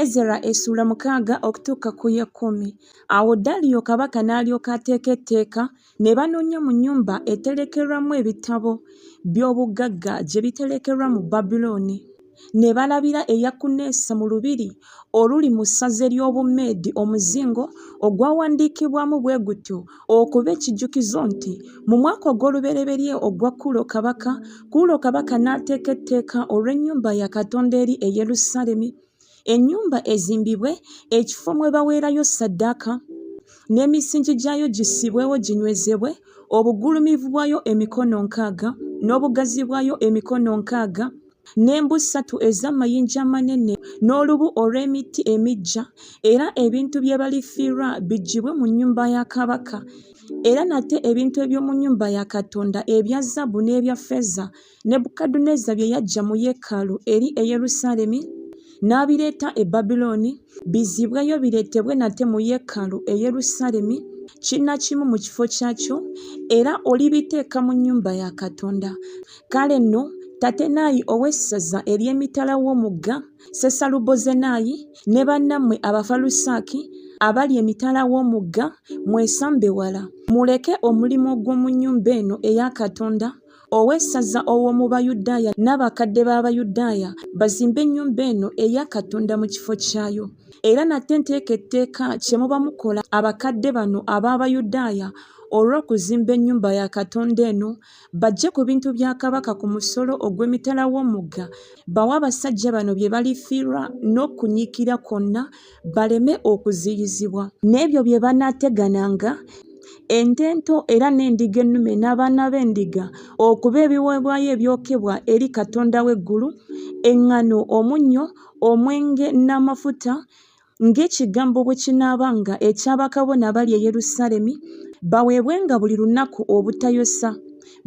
Ezera essuula mukaaga okutuuka ku y'ekkumi. Awo Daliyo kabaka n'alyoka ateeka etteeka, ne banoonya mu nnyumba eterekerwamu ebitabo by'obugagga gye biterekerwa mu Babulooni, ne balabira e Yakuneesi mu lubiri oluli mu ssaza ery'Obumeedi omuzingo ogwawandiikibwamu bwe gutyo okuba ekijjukizo nti mu mwaka ogw'olubereberye ogwa kuulo kabaka kuulo kabaka n'ateeka etteeka olw'ennyumba ya katonda eri e yerusaalemi ennyumba ezimbibwe ekifo mwe baweerayo saddaaka n'emisingi gyayo gissibwewo ginywezebwe obugulumivu bwayo emikono nkaaga n'obugazi bwayo emikono nkaaga n'embu ssatu ez'amayinja amanene n'olubu olw'emitti emiggya, era ebintu bye balifiirwa biggyibwe mu nnyumba ya kabaka. Era nate ebintu eby'omu nnyumba ya Katonda ebya zaabu n'ebya ffeeza Nebukadduneeza bye yaggya mu yeekaalu eri e Yerusaalemi n'abireeta e Babilooni, bizzibweyo bireetebwe nate mu yeekaalu e Yerusaalemi kinnakimu mu kifo kyakyo, era olibiteeka mu nnyumba ya Katonda. Kale nno Tatenayi ow'essaza ery'emitala w'omugga Sesalubozenayi ne bannammwe Abafalusaaki abali emitala w'omugga mwesambe wala, muleke omulimu ogw'omu nnyumba eno eya Katonda ow'essaza ow'omu Bayudaaya n'abakadde b'Abayudaaya bazimbe ennyumba eno eya Katonda mu kifo kyayo. Era nate nteeka etteeka kye muba mukola abakadde bano ab'Abayudaaya olw'okuzimba ennyumba ya Katonda eno Bajje ku bintu bya Kabaka ku musolo ogw'emitala w'omugga bawe abasajja bano bye balifiirwa n'okunyiikira kwonna baleme okuziyizibwa n'ebyo bye banaategananga ente ento era n'endiga ennume n'abaana b'endiga okuba ebiweebwayo ebyokebwa eri Katonda w'eggulu, eŋŋano, omunnyo, omwenge n'amafuta ng'ekigambo bwe kinaaba nga eky'abakabona abali e Yerusaalemi, baweebwenga buli lunaku obutayosa,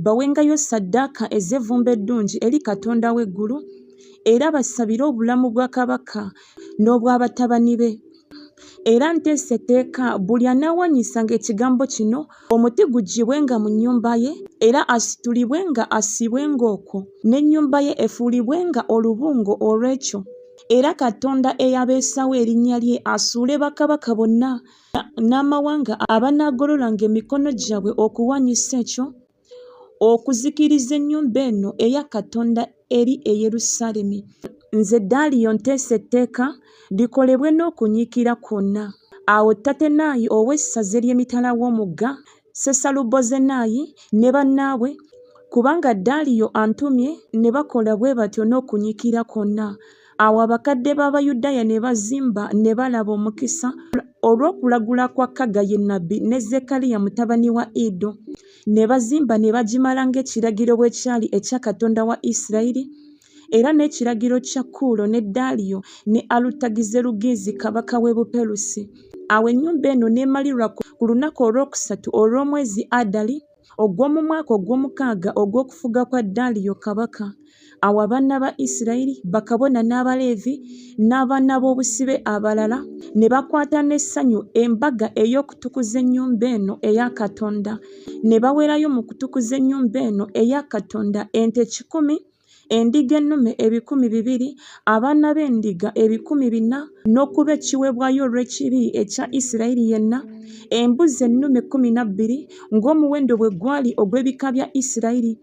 bawengayo ssaddaaka ez'evvumbe eddungi eri Katonda w'eggulu, era basabire obulamu bwa kabaka n'obwa batabani be. Era nteesa etteeka buli anaawaanyisanga ekigambo kino, omuti guggyibwenga mu nnyumba ye, era asitulibwenga assiibwenga okwo, n'ennyumba ye efuulibwenga olubungo olw'ekyo. era katonda eyabeesawo erinnya lye asuule bakabaka bonna n'amawanga abanaagololanga emikono gyabwe okuwanyisa ekyo okuzikiriza ennyumba eno eya katonda eri e yerusaalemi nze daaliyo nteesa etteeka likolebwe n'okunyiikira kwonna awo tatenayi ow'essaza ery'emitala w'omugga Sesalubozenayi ne bannaabwe, kubanga Daliyo antumye, ne bakola bwe batyo n'okunyiikira kwonna. Awo abakadde b'Abayudaaya ne bazimba, ne balaba omukisa, olw'okulagula kwa Kaggayi nnabbi ne Zekkaliya mutabani wa Iddo, ne bazimba ne bagimala ng'ekiragiro bwe kyali ekya Katonda wa Isirayiri, era n'ekiragiro kya Kuulo ne Daaliyo ne Alutagizerugizi kabaka w'e Buperusi. Awo ennyumba eno n'emalirwa ku lunaku olwokusatu olw'omwezi Adali, ogw'omu mwaka ogw'omukaaga ogw'okufuga kwa Daaliyo kabaka. Awo abaana ba Isirayiri, bakabona n'Abaleevi, n'abaana b'obusibe abalala, ne bakwata n'essanyu embaga ey'okutukuza ennyumba eno eya Katonda, ne baweerayo mu kutukuza ennyumba eno eya Katonda ente kikumi endiga ennume ebikumi bibiri, abaana b'endiga ebikumi bina n'okuba ekiweebwayo olw'ekibi ekya Isirayiri yenna, embuzi ennume kkumi na bbiri ng'omuwendo bwe gwali ogw'ebika bya Isirayiri.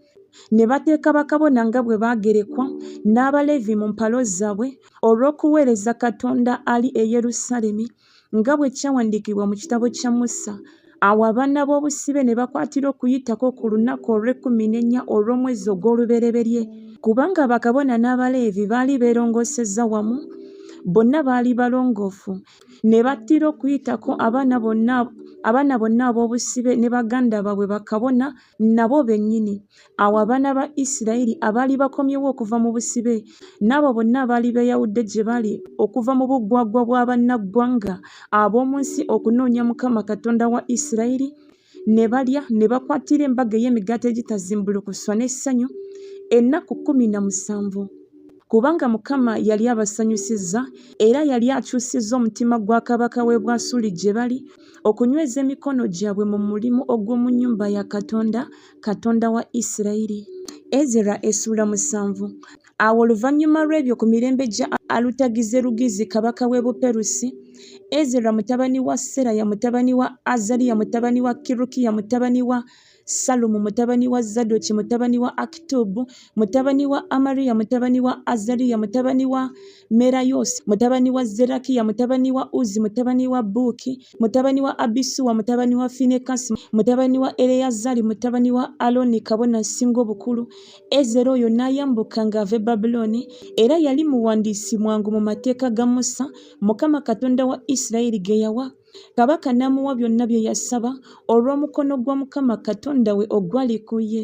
Ne bateeka bakabona nga bwe baagerekwa, n'Abaleevi mu mpalo zaabwe, olw'okuweereza Katonda ali e Yerusaalemi. nga bwe kyawandiikibwa mu kitabo kya Musa, awo abaana b'obusibe ne bakwatira okuyitako ku lunaku olw'ekkumi n'ennya olw'omwezi ogw'olubereberye, kubanga bakabona n'Abaleevi baali beerongosezza wamu, bonna baali balongoofu, ne battira okuyitako abaana bonna abaana bonna ab'obusibe ne baganda baabwe bakabona nabo bennyini, Awo abaana ba Isirayiri abaali bakomyewo okuva mu busibe n'abo bonna abaali beeyawudde gye bali okuva mu buggwaggwa bwa bannaggwanga ab'omu nsi okunoonya Mukama Katonda wa Isirayiri, ne balya ne bakwatira embaga ey'emigaati egitazimbulukuswa n'essanyu ennaku kkumi na musanvu. Kubanga Mukama yali abasanyusizza, era yali akyusizza omutima gwa kabaka w'e Bwasuli gye bali, okunyweza emikono gyabwe mu mulimu ogw'omu nnyumba ya Katonda Katonda wa Isirayiri. Ezera essuula musanvu. Awo oluvannyuma lw'ebyo ku mirembe gya Alutagizerugizi kabaka w'e Buperusi, Ezera mutabani wa Seraya mutabani wa Azariya mutabani wa Kirukiya mutabani wa Salumu mutabani wa Zadoki mutabani wa Akitubu mutabani wa Amariya mutabani wa Azariya mutabani wa Merayosi mutabani wa Zerakiya mutabani wa Uzi mutabani wa Buki mutabani wa Abisuwa mutabani wa Finekasi mutabani wa Eleyazari mutabani wa Aloni kabona asinga obukulu Ezera oyo n'ayambuka ng'ava e Babulooni era yali muwandiisi mwangu mu mateeka ga Musa Mukama Katonda wa Isirayiri ge yawa kabaka n'amuwa byonna bye yasaba olw'omukono gwa Mukama Katonda we ogwali ku ye.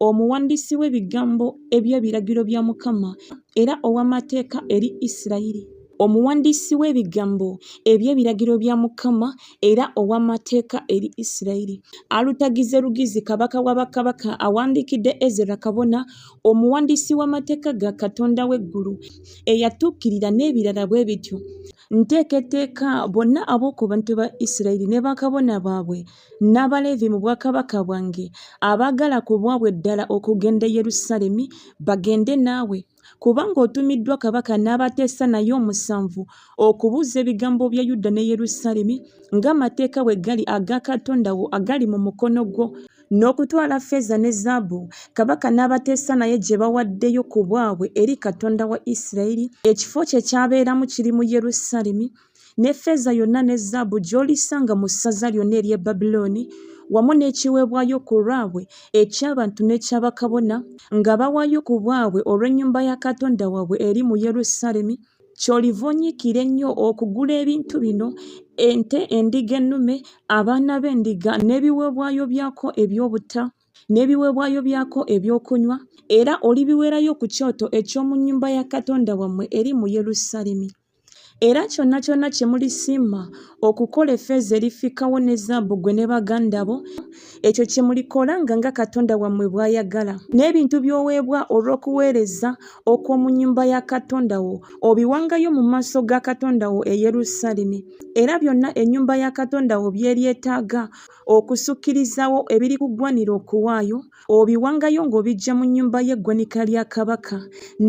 omuwandiisi w'ebigambo eby'ebiragiro bya Mukama era ow'amateeka eri Isirayiri. Omuwandiisi w'ebigambo eby'ebiragiro bya Mukama era ow'amateeka eri Isirayiri. Alutagize Lugizi kabaka wa bakabaka awandiikidde Ezera kabona, omuwandiisi w'amateeka ga Katonda w'eggulu, eyatuukirira n'ebirala bwe bityo. Nteeka etteeka bonna ab'oku bantu ba Isirayiri ne bakabona baabwe n'Abaleevi mu bwakabaka bwange, abaagala ku bwabwe ddala okugenda e Yerusaalemi, bagende naawe, kubanga otumiddwa kabaka n'abateesa naye omusanvu okubuuza ebigambo bya Yuda ne Yerusaalemi, ng'amateeka bwe gali aga Katonda wo agali mu mukono gwo, n'okutwala ffeeza ne zaabu kabaka n'abateesa naye gye bawaddeyo ku bwabwe eri Katonda wa Isirayiri, ekifo kye kyabeeramu kiri mu Yerusaalemi, ne ffeeza yonna ne zaabu gy'olisanga mu ssaza lyonna ery'e Babulooni, wamu n'ekiweebwayo ku lwabwe eky'abantu n'ekya bakabona, nga bawaayo ku bwabwe olw'ennyumba ya Katonda waabwe eri mu Yerusaalemi, ky'oliva onyiikira ennyo okugula ebintu bino, ente, endiga ennume, abaana b'endiga, n'ebiweebwayo byako eby'obutta, n'ebiweebwayo byako eby'okunywa, era olibiweerayo ku kyoto eky'omu nnyumba ya Katonda wammwe eri mu Yerusaalemi. Era kyonna kyonna kye mulisimma okukola effeeza erifikkawo ne zaabu ggwe ne baganda bo, ekyo kye mulikola nga nga Katonda wammwe bw'ayagala. N'ebintu by'oweebwa olw'okuweereza okw'omu nnyumba ya Katonda wo, obiwangayo mu maaso ga Katonda wo e Yerusaalemi. Era byonna ennyumba ya Katonda wo by'eryetaaga okusukkirizaawo ebirikuggwanira okuwaayo, obiwangayo ng'obiggya mu nnyumba y'eggwanika lya kabaka.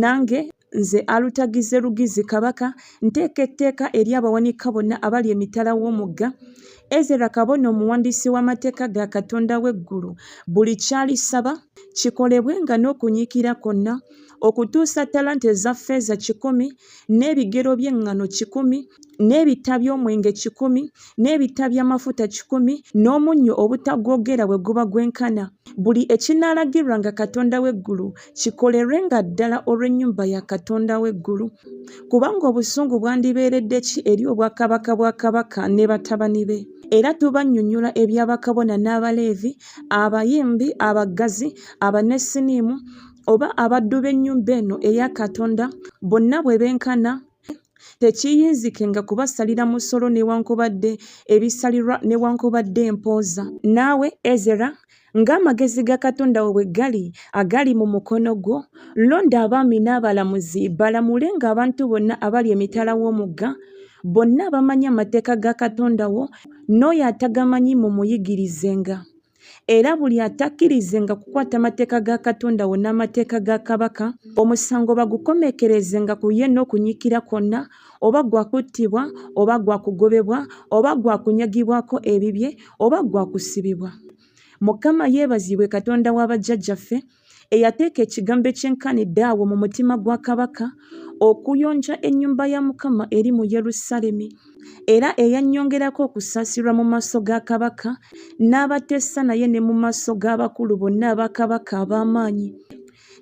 Nange Nze Alutagize Lugizi Kabaka nteeka etteeka eri abawanika bonna abali emitala w'omugga, Ezera kabona omuwandiisi w'amateeka ga Katonda w'eggulu, buli ky'alisaba kikolebwenga n'okunyiikira kwonna, okutuusa talanta eza ffeeza kikumi, n'ebigero by'eŋŋano kikumi, n'ebita by'omwenge kikumi, n'ebitta by'amafuta kikumi, n'omunnyo obutagwogera bwe guba gwenkana, buli ekinaalagirirwanga Katonda w'eggulu kikolerwenga ddala olw'ennyumba ya Katonda w'eggulu. Kubanga obusungu bwandibeeredde ki eri obwakabaka bwa kabaka ne batabani be? era tubannyonnyola ebya bakabona n'abaleevi abayimbi abaggazi abanesiniimu oba abaddu b'ennyumba eno eya katonda bonna bwe benkana tekiyinzikenga kubasalira musolo newankubadde ebisalirwa newankubadde empooza naawe ezera ng'amagezi ga katonda wo bwe gali agali mu mukono gwo londa abaami n'abalamuzi balamule ng'abantu bonna abali emitala w'omugga bonna abamanyi amateeka ga katonda wo n'oyo atagamanyi mumuyigirizenga era buli atakkirizenga kukwata mateeka ga Katonda wo n'amateeka ga Kabaka, omusango bagukomeekerezenga ku ye n'okunyiikira kwonna, oba gwa kuttibwa, oba gwa kugobebwa, oba gwa kunyagibwako ebibye, oba gwa kusibibwa. Mukama yeebazibwe Katonda wa bajjajjaffe, eyateeka ekigambo ekyenkanidde awo mu mutima gwa kabaka okuyonja ennyumba ya mukama eri mu yerusaalemi era eyannyongerako okusaasirwa mu maaso ga kabaka n'abateesa naye ne mu maaso g'abakulu bonna aba kabaka ab'amaanyi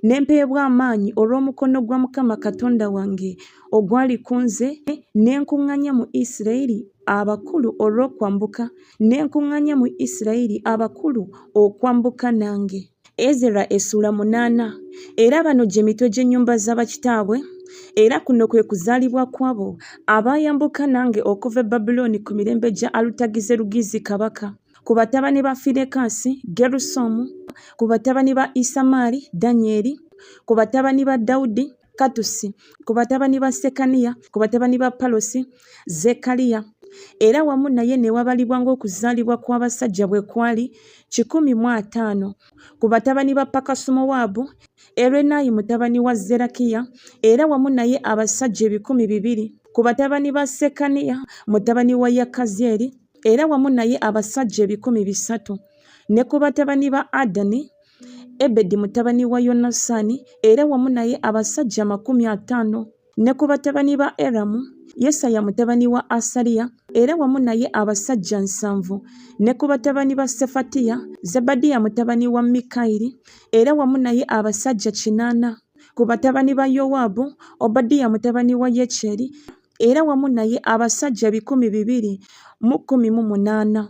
ne mpeebwa amaanyi olw'omukono gwa mukama katonda wange ogwali ku nze ne nkuŋŋanya mu isirayiri abakulu olw'okwambuka ne nkuŋŋanya mu isirayiri abakulu okwambuka nange Ezera essula munaana era bano gye mitwe gy'ennyumba za bakitaabwe era kuno kwe kuzaalibwa kwabo abaayambuka nange okuva e babulooni ku mirembe gya alutagize lugizi kabaka ku batabani ba finekansi gerusomu ku batabani ba isamaali danyeri ku batabani ba dawudi Katusi, ku batabani ba Sekaniya, ku batabani ba Palosi, Zekaliya, era wamu naye ne wabalibwa ng'okuzaalibwa kw'abasajja bwe kwali kikumi mu ataano ku batabani ba Pakasumowaabu, Erenayi mutabani wa Zerakiya, era wamu naye abasajja ebikumi bibiri ku batabani ba Sekaniya mutabani wa Yakazyeri, era wamu naye abasajja ebikumi bisatu ne ku batabani ba Adani, Ebedi mutabani wa Yonasaani era wamu naye abasajja amakumi ataano, ne ku batabani ba Eramu, Yesaya mutabani wa Asaliya era wamu naye abasajja nsanvu, ne ku batabani ba Sefatiya, Zebadiya mutabani wa Mikayiri era wamu naye abasajja kinaana, ku batabani ba Yowaabu, Obadiya mutabani wa Yekyeri era wamu naye abasajja ebikumi bibiri mu kkumi mu munaana.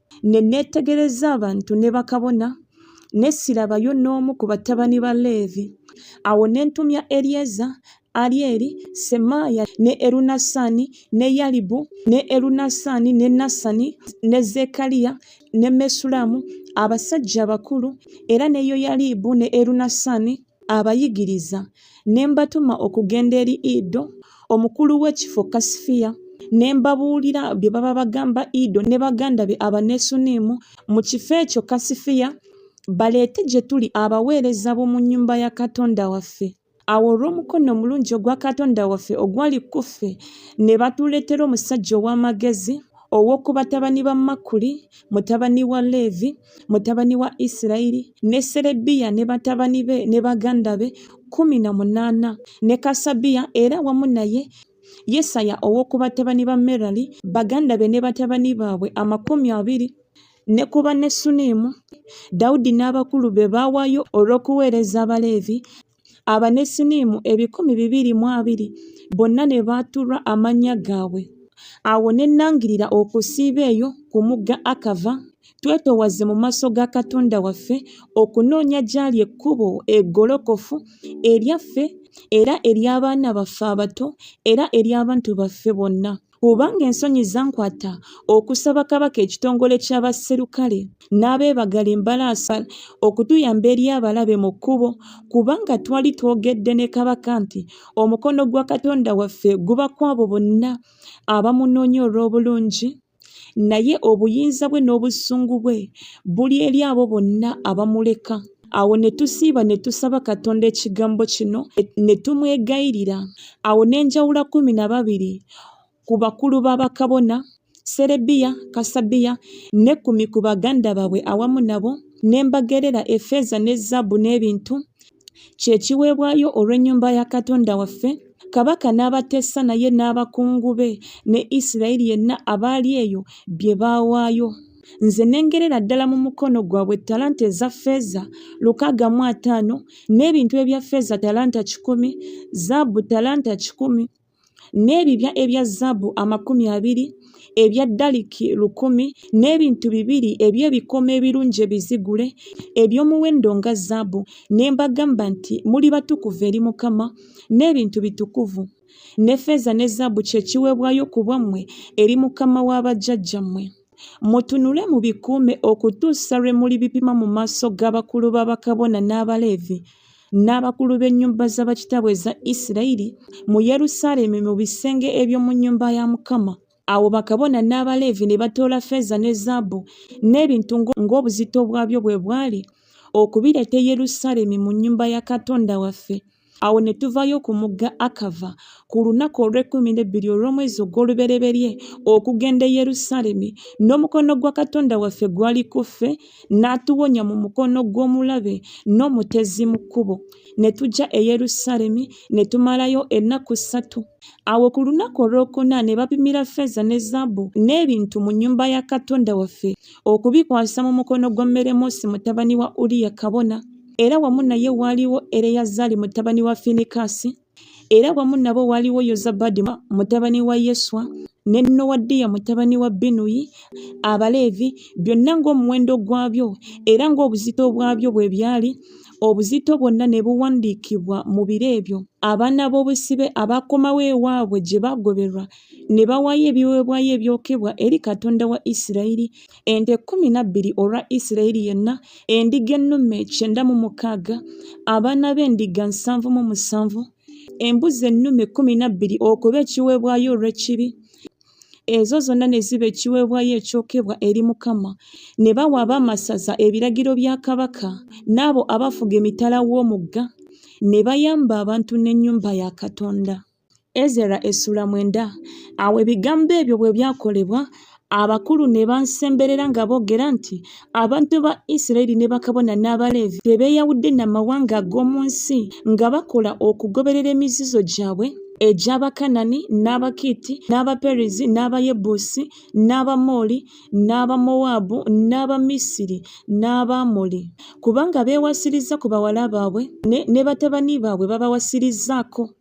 Ne neetegereza abantu ne bakabona, ne sirabayo n'omu ku batabani ba Leevi. Awo ne ntumya Eryeza, Aryeri, Semaaya, ne Erunasani, ne Yalibu, ne Erunasani, ne Nasani, ne Zekaliya, ne Mesulamu, abasajja abakulu, era ne Yoyalibu ne Erunasani, abayigiriza ne mbatuma okugenda eri ido omukulu w'ekifo kasifiya ne mbabuulira bye baba bagamba ido ne baganda be abanesuniimu mu kifo ekyo kasifiya baleete gye tuli abaweereza b'omu nnyumba ya katonda waffe awo olw'omukono omulungi ogwa katonda waffe ogwali kuffe ne batuleetera omusajja ow'amagezi Ow'oku batabani ba Makuli, mutabani wa Leevi, mutabani wa Isirayiri, ne Serebiya ne batabani be ne baganda be kkumi na munaana, ne Kasabiya era wamu naye Yesaya ow'oku batabani ba Merali, baganda be ne batabani baabwe amakumi abiri ne ku Bannesuniimu, Dawudi n'abakulu be baawaayo olw'okuweereza Abaleevi, Abanesiniimu ebikumi bibiri mu abiri bonna ne baatulwa amannya gaabwe. Awo ne nnangirira okusiiba eyo ku mugga Akava, twetoowaze mu maaso ga Katonda waffe, okunoonya gy'ali ekkubo eggolokofu eryaffe era ery'abaana baffe abato era ery'abantu baffe bonna. Kubanga ensonyi zankwata okusaba Kabaka ekitongole ky'abasserukale n'abeebagala embalaasa okutuyamba eri abalabe mu kkubo kubanga twali twogedde ne Kabaka nti omukono gwa Katonda waffe guba kw'abo bonna abamunoonya olw'obulungi naye obuyinza bwe n'obusungu bwe buli eri abo bonna abamuleka. awo ne tusiiba ne tusaba katonda ekigambo kino ne tumwegayirira awo n'enjawula kumi na babiri ku bakulu b'abakabona serebiya kasabiya ne kumi ku baganda baabwe awamu nabo ne mbagerera efeeza ne zaabu n'ebintu kye kiweebwayo olw'ennyumba ya katonda waffe kabaka n'abateesa naye n'abakungu be ne isirayiri yenna abaali eyo bye baawaayo nze ne ngerera ddala mu mukono gwabwe talanta eza ffeeza lukaaga mu ataano n'ebintu ebya ffeeza talanta kikumi zaabu talanta kikumi n'ebibya ebya zaabu amakumi abiri ebya daliki lukumi n'ebintu bibiri eby'ebikomo ebirungi ebizigule eby'omuwendo nga zaabu ne mbagamba nti muli batukuvu eri mukama n'ebintu bitukuvu ne ffeeza ne zaabu kye kiweebwayo ku bwammwe eri mukama wa bajjajjammwe mutunule mubikuume okutuusa lwe muli bipima mu maaso g'abakulu b'abakabona n'abaleevi n'abakulu b'ennyumba za bakitaabwe eza isirayiri mu yerusaalemi mu bisenge eby'omu nnyumba ya mukama awo bakabona n'abaleevi ne batoola feeza ne zaabu n'ebintu ng'obuzito bwabyo bwe bwali okubireeta e yerusaalemi mu nnyumba ya katonda waffe Awo ne tuvayo ku mugga Akava ku lunaku olw'ekkumi n'ebbiri olw'omwezi ogw'olubereberye okugenda e Yerusaalemi, n'omukono gwa Katonda waffe gwali ku ffe, n'atuwonya mu mukono gw'omulabe n'omutezi mu kkubo. Ne tujja e Yerusaalemi ne tumalayo ennaku ssatu. Awo ku lunaku olwokuna ne bapimira ffeeza ne zaabu n'ebintu mu nnyumba ya Katonda waffe, okubikwasa mu mukono gwa Meremoosi mutabani wa Uriya kabona. era wamu naye waaliwo Ereyazari mutabani wa Finikasi, era wamu nabo waaliwo Yozabadi mutabani wa Yeswa, ne Nowadiya mutabani wa Binuyi, Abaleevi, byonna ng'omuwendo gwabyo era ng'obuzito bwabyo bwe byali, obuzito bwonna ne buwandiikibwa mu biro ebyo. Abaana b'obusibe abaakomawo ewaabwe gye baagoberwa, ne bawaayo ebiweebwayo ebyokebwa eri Katonda wa Isirayiri, ente kkumi na bbiri olwa isirayiri yenna endiga ennume kyenda mu mukaaga abaana b'endiga nsanvu mu musanvu embuzi ennume kkumi na bbiri okuba ekiweebwayo olw'ekibi ezo zonna ne ziba ekiweebwayo ekyokebwa eri mukama ne bawa abaamasaza ebiragiro bya kabaka n'abo abafuga emitala w'omugga ne bayamba abantu n'ennyumba ya katonda Ezera essula mwenda awo ebigambo ebyo bwe byakolebwa abakulu ne bansemberera nga boogera nti abantu ba isirayiri ne bakabona n'abaleevi tebeeyawudde na mawanga ag'omu nsi nga bakola okugoberera emizizo gyabwe egy'abakanani n'abakiiti n'abaperezi n'abayebuusi n'abamooli n'abamowaabu n'abamisiri n'abaamoli kubanga beewasiriza ku bawala baabwe ne batabani baabwe babawasirizzaako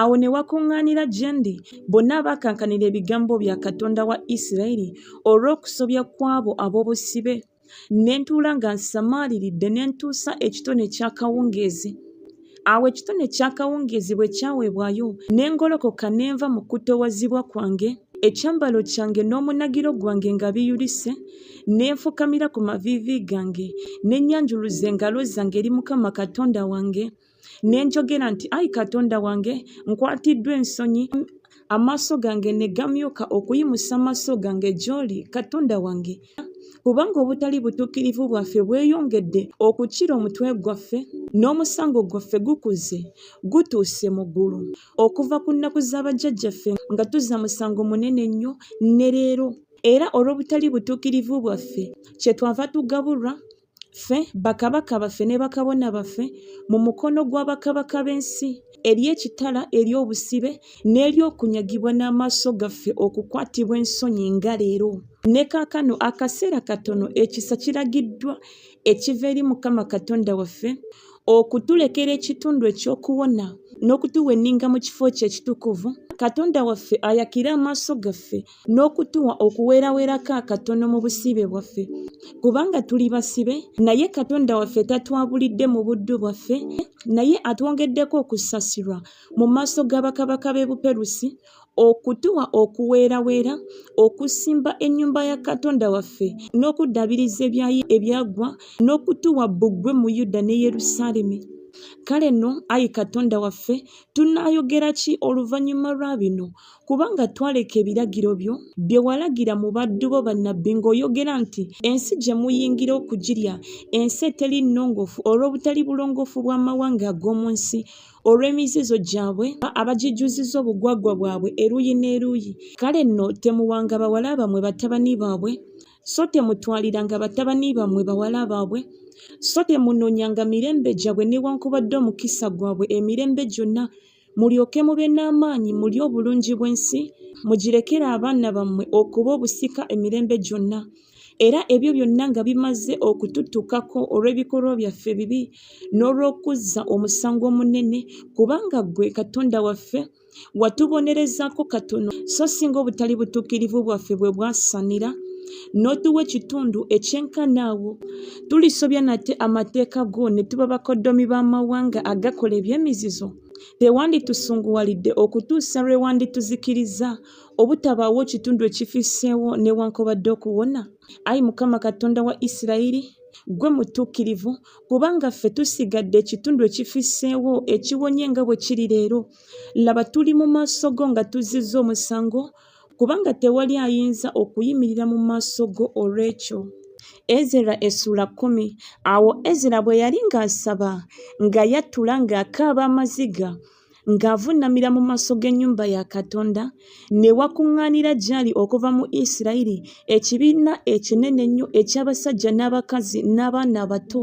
Awo ne wakuŋŋaanira gye ndi bonna abaakankanira ebigambo bya Katonda wa Isirayiri olw'okusobya kw'abo ab'obusibe, ne ntuula nga nsamaaliridde ne ntuusa ekitone ky'akawungeezi. Awo ekitone ky'akawungeezi bwe kyaweebwayo, ne ngolokoka ne nva mu kutoowazibwa kwange, ekyambalo kyange n'omunagiro gwange nga biyulise, ne nfukamira ku maviivi gange, ne nnyanjuluza engalo zange eri Mukama Katonda wange, ne njogera nti ayi katonda wange nkwatiddwa ensonyi amaaso gange ne gamyuka okuyimusa amaaso gange gy'oli katonda wange kubanga obutali butuukirivu bwaffe bweyongedde okukira omutwe gwaffe n'omusango gwaffe gukuze gutuuse mu ggulu okuva ku nnaku z'abajjajjaffe nga tuzza musango munene nnyo ne leero era olw'obutali butuukirivu bwaffe kye twava tugabulwa ffe bakabaka baffe ne bakabona baffe mu mukono gwa bakabaka b'ensi eri ekitala eri obusibe n'eri okunyagibwa n'amaaso gaffe okukwatibwa ensonyi nga leero ne kaakano akaseera katono ekisa kiragiddwa ekiva eri mukama katonda waffe okutulekera ekitundu eky'okuwona n'okutuwa enninga mu kifo kye ekitukuvu katonda waffe ayakire amaaso gaffe n'okutuwa okuweeraweerako akatono mu busiibe bwaffe kubanga tuli basibe naye katonda waffe tatwabulidde mu buddu bwaffe naye atwongeddeko okusasirwa mu maaso ga bakabaka b'e buperusi okutuwa okuweeraweera okusimba ennyumba ya katonda waffe n'okuddabiriza ebyayi ebyaggwa n'okutuwa bbugwe mu yuda ne yerusaalemi kale nno ayi katonda waffe tunaayogera ki oluvannyuma lwa bino kubanga twaleka ebiragiro byo bye walagira mu baddu bo bannabbi ng'oyogera nti ensi gye muyingira okugirya ensi eteri nnongoofu olw'obutali bulongoofu bw'amawanga ag'omu nsi olw'emizizo gyabwe abagijjuziza obugwagwa bwabwe eruuyi n'eruuyi kale nno temuwanga bawala bamwe batabani baabwe so temutwaliranga batabani bammwe bawala baabwe so temunoonyanga mirembe gyabwe newankubadde omukisa gwabwe emirembe gyonna mulyoke mube n'amaanyi mulye obulungi bw'ensi mugirekere abaana bammwe okuba obusika emirembe gyonna era ebyo byonna nga bimaze okututukako olw'ebikolwa byaffe ebibi n'olw'okuzza omusango omunene kubanga ggwe katonda waffe watubonerezaako katono so singa obutali butuukirivu bwaffe bwe bwasanira n'otuwa ekitundu ekyenkanaawo Tulisobya nate amateeka go ne tuba bakoddomi b'amawanga agakola eby'emizizo? Tewanditusunguwalidde okutuusa lwe wandituzikirizza, obutabaawo kitundu ekifisseewo newankubadde okuwona? Ayi Mukama Katonda wa Isirayiri, ggwe mutuukirivu, kubanga ffe tusigadde ekitundu ekifisseewo ekiwonye nga bwe kiri leero. Laba tuli mu maaso go nga tuzzizza omusango, kubanga tewali ayinza okuyimirira mu maaso go olw'ekyo ezera essula kkumi awo ezera bwe yali ng'asaba nga yattula ng'akaaba amaziga ng'avunnamira mu maaso g'ennyumba ya katonda ne wakuŋŋaanira gy'ali okuva mu isirayiri ekibiina ekinene ennyo eky'abasajja n'abakazi n'abaana abato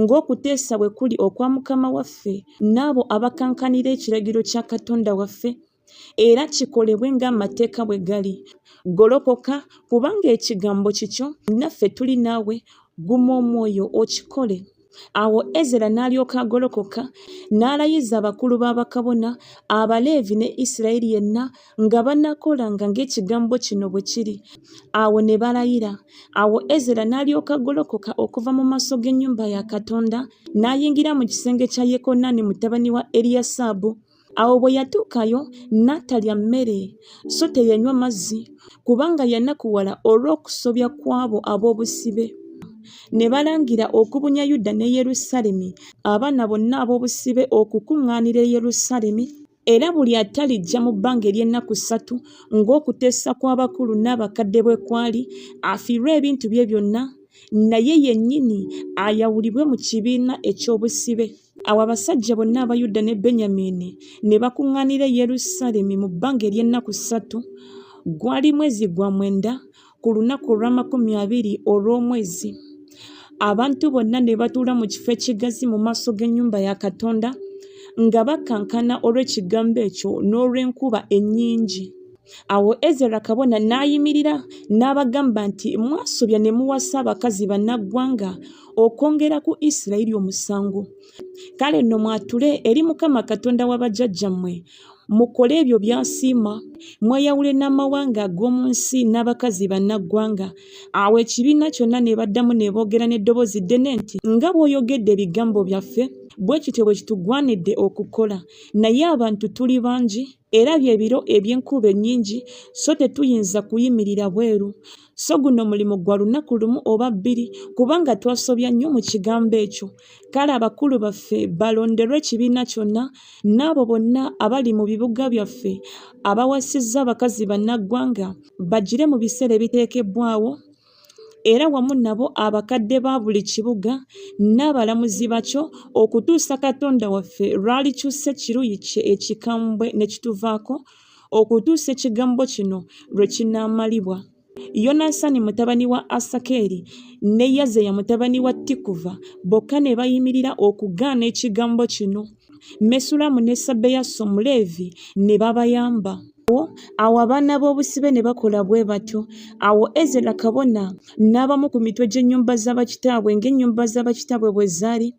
ng'okuteesa bwe kuli okwa Mukama waffe n'abo abakankanira ekiragiro kya Katonda waffe, era kikolebwe ng'amateeka bwe gali. Golokoka, kubanga ekigambo kikyo, naffe tuli naawe, guma omwoyo okikole. Awo Ezera n'alyoka agolokoka, n'alayiza abakulu b'abakabona, Abaleevi ne Isirayiri yenna, nga banakolanga ng'ekigambo kino bwe kiri awo ne balayira awo ezera n'alyoka golokoka okuva mu maaso g'ennyumba ya katonda n'ayingira mu kisenge kya yekonaani mutabani wa eriyasaabu awo bwe yatuukayo n'atalya mmere so teyanywa mazzi kubanga yanakuwala olw'okusobya kw'abo ab'obusibe ne balangira okubunya yuda ne yerusaalemi abaana bonna ab'obusibe okukuŋŋaanira e yerusaalemi era buli atalijja mu bbanga ery'ennaku ssatu ng'okuteesa kw'abakulu n'abakadde bwe kwali afiirwe ebintu bye byonna naye yennyini ayawulibwe mu kibiina eky'obusibe awo abasajja bonna aba yuda ne benyamiini ne bakuŋŋaanira e yerusaalemi mu bbanga ery'ennaku ssatu gwali mwezi gwa mwenda ku lunaku olw'amakumi abiri olw'omwezi abantu bonna ne batuula mu kifo ekigazi mu maaso g'ennyumba ya katonda nga bakankana olw'ekigambo ekyo n'olw'enkuba ennyingi awo ezera kabona n'ayimirira n'abagamba nti mwasobya ne muwasa abakazi bannaggwanga okwongera ku isirayiri omusango kale nno mwatule eri mukama katonda wa bajjajjammwe mukole ebyo by'asiima mweyawule n'amawanga ag'omu nsi n'abakazi bannaggwanga awo ekibiina kyonna ne baddamu ne boogera n'eddoboozi ddene nti nga bw'oyogedde ebigambo byaffe bwe kityo bwe kitugwanidde okukola naye abantu tuli bangi era bye biro eby'enkuba ennyingi so tetuyinza kuyimirira bweru so guno mulimu gwa lunaku lumu oba bbiri kubanga twasobya nnyo mu kigambo ekyo kale abakulu baffe balonderwe ekibiina kyonna n'abo bonna abali mu bibuga byaffe abawasizza abakazi bannaggwanga bagire mu biseera ebiteekebbwawo era wamu nabo abakadde ba buli kibuga n'abalamuzi bakyo okutuusa katonda waffe lwalikyusa ekiruyi kye ekikambwe ne kituvaako okutuusa ekigambo kino lwe kinaamalibwa. Yonasaani mutabani wa Asakeeri ne Yazeya mutabani wa Tikuva bokka ne bayimirira okugaana ekigambo kino. Mesulamu ne Sabeyaso Omuleevi ne babayamba. Awo abaana b'obusibe ne bakola bwe batyo. Awo Ezera kabona n'abamu ku mitwe gy'ennyumba za bakitaabwe ng'ennyumba za bakitaabwe bwe zaali.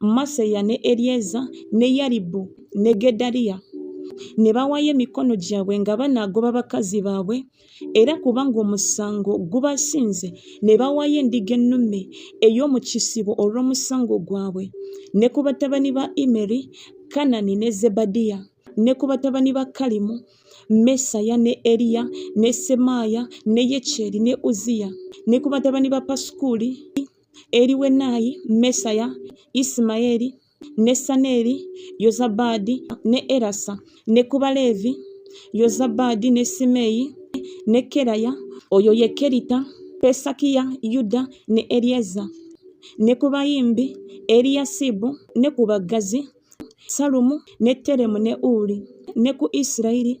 Maseya ne Eryeza ne Yaribu ne Gedaliya ne bawaayo emikono gyabwe nga banaagoba bakazi baabwe era kubanga omusango gubasinze ne bawaayo endiga ennume ey'omu kisibo olw'omusango gwabwe ne ku batabani ba imeri kanani ne zebadiya ne ku batabani ba kalimu mesaya ne eriya ne semaaya ne yekyeri ne uziya ne ku batabani ba pasukuli Eliwenayi, Mesaya, Isimayeli, Nesaneri, Yozabadi, ne Erasa, ne ku Baleevi, Yozabadi, ne Simeyi, ne Keraya, oyo ye Kerita, Pesakiya, Yuda, ne Elieza, ne ku bayimbi, Eliyasibu, ne ku baggazi, Salumu, ne Teremu, ne Uli, ne ku Isirayiri,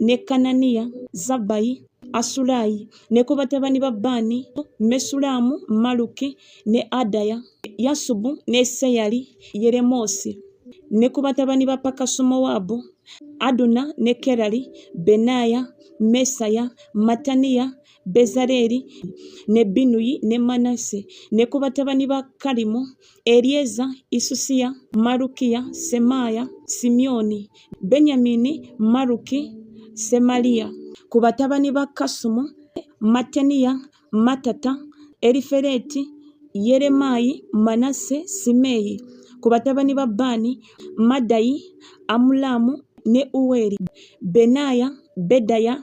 ne Kananiya, Zabbayi, Asulayi, ne ku batabani ba Baani, Mesulaamu, Maluki, ne Adaya, Yasubu, ne Seyali, Yeremoosi, ne ku batabani ba Pakasumowaabu, Aduna, ne Kerali, Benaaya, Mesaya, Mataniya, Bezaleeri, ne Binuyi, ne Manase, ne ku batabani ba Kalimu, Eryeza, Isusiya, Malukiya, Semaaya, Simyoni, Benyamini, Maluki, Semaliya. Ku batabani ba Kasumu, Mattaniya, Mattata, Erifereti, Yeremaayi, Manasse, Simeeyi. Ku batabani ba Baani, Maddayi, Amulaamu ne Uweri, Benaaya, Bedaya,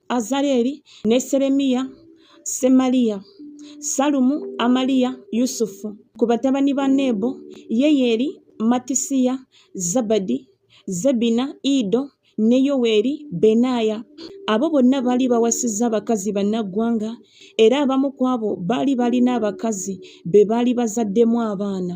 Azareli ne Seremiya, Semaliya, Salumu, Amaliya, Yusufu. Ku batabani ba Nebo, Yeyeri, Matisiya, Zabadi, Zebina, Ido, ne Yoweri, Benaya. Abo bonna baali bawasizza abakazi bannaggwanga, era abamu ku abo baali balina abakazi be baali bazaddemu abaana.